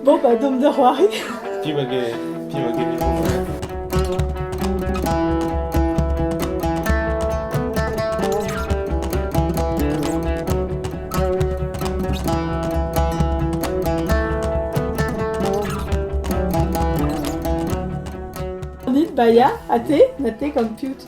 Bon, bah, dôme de c'hoari. Pi hag pi hag Baia, ate, nate gant piut.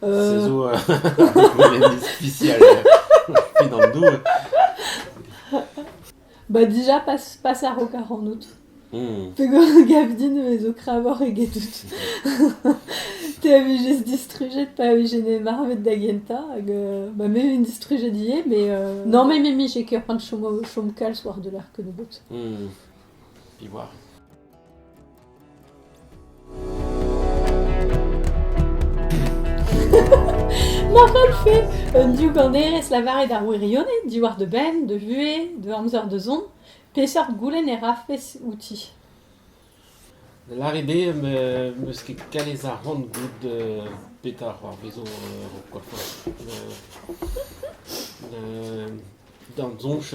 Se zo un économie spéciale fin an doue. Bah déjà passe, passe ar rokar en août. Hmm. Pegor gavdin me zo kravoc'h egedout. Te a vijez distrujet pa vije ne marvet da genta, hag euh, bah me vin distrujet ivez, mais euh, non mais Mimi j'ai ket c'hoant chom, chom kalz war de l'arc nebeut. Hmm. Puis voir. Ma c'hellfe un diouganerez lavaret ar wirionez diwar da benn, da vuhez, da amzer da zont, peseurt goulenn e rafes outi? Da lâret eo em eus ket kalz arc'hant goût uh, petra c'hoarvezo uh, quoi quoi. Uh, da soñj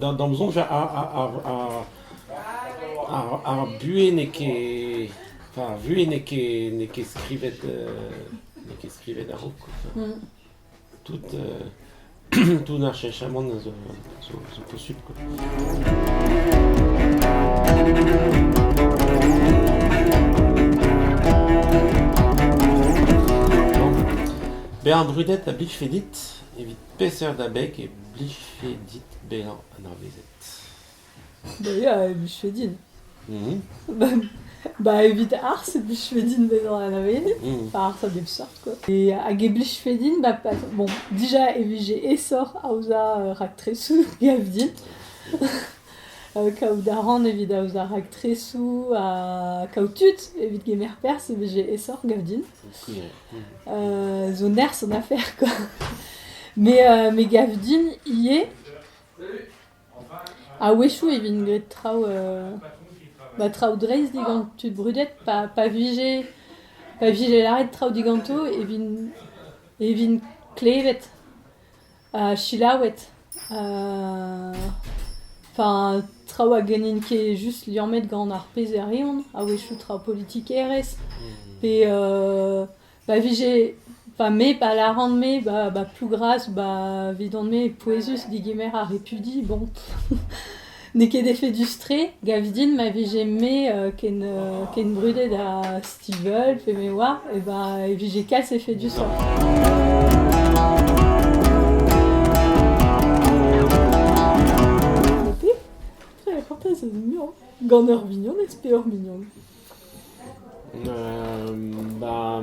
Da'm soñj ar buhez n'eo ket... Enfin ar vuhez n'eo ket n'eo ket skrivet n'eo ket skrivet a-raok tout tout ar cheñchamant a zo zo posupl quoi. Bezañ brudet a blijfe dit. Evit peseurt abeg e blijfe dit bezañ anavezet? Bezañ e blije din. Ba evit ar arz e blijfe din bezañ anavezet, pa arz a bep seurt quoi. E hag e blijfe din ba pa bon dija e vije aesoc'h aozañ raktresoù gav din, kaout a ran evit aozañ raktresoù ha kaout tud evit kemer perzh e vije aesoc'h gav din. zo nerzh an afer quoi. Me euh, me gav din ivez a-wechoù e vint graet traoù euh, ba traoù dreist digant tud brudet pa pa vije pa vije lâret traoù diganto e vint e vint klevet selaouet. Enfin traoù hag n'int ket just liammet gant ar pezherion, a-wechoù traoù politikerezh pe pa vije... Enfin me pa lâran-me ba Plougras, ba 'vidon-me, pouezus degemer ar repudi, bon. N'eo ket efedus-tre. Gav din ma vije-me euh, ken, euh, ken brudet ha Stivell pe me oar, eh ben, e vije kalz efedusoc'h. Nape, j'avais pensé à mignon. Gant ur mignonez pe ur mignon? Euh, bah,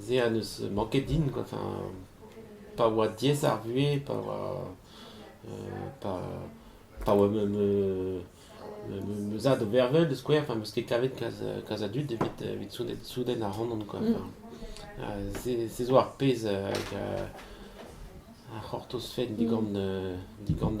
Se a n'eus manket din, enfin pa oa diaes ar vuhez, pa oa pa pa oa ma ma ma ma zad o vervel da skouer, enfin 'm eus ket kavet kalz a dud evit evit souden ac'hanon quoi. Se se zo ar pezh hag a c'hortozfen digant digant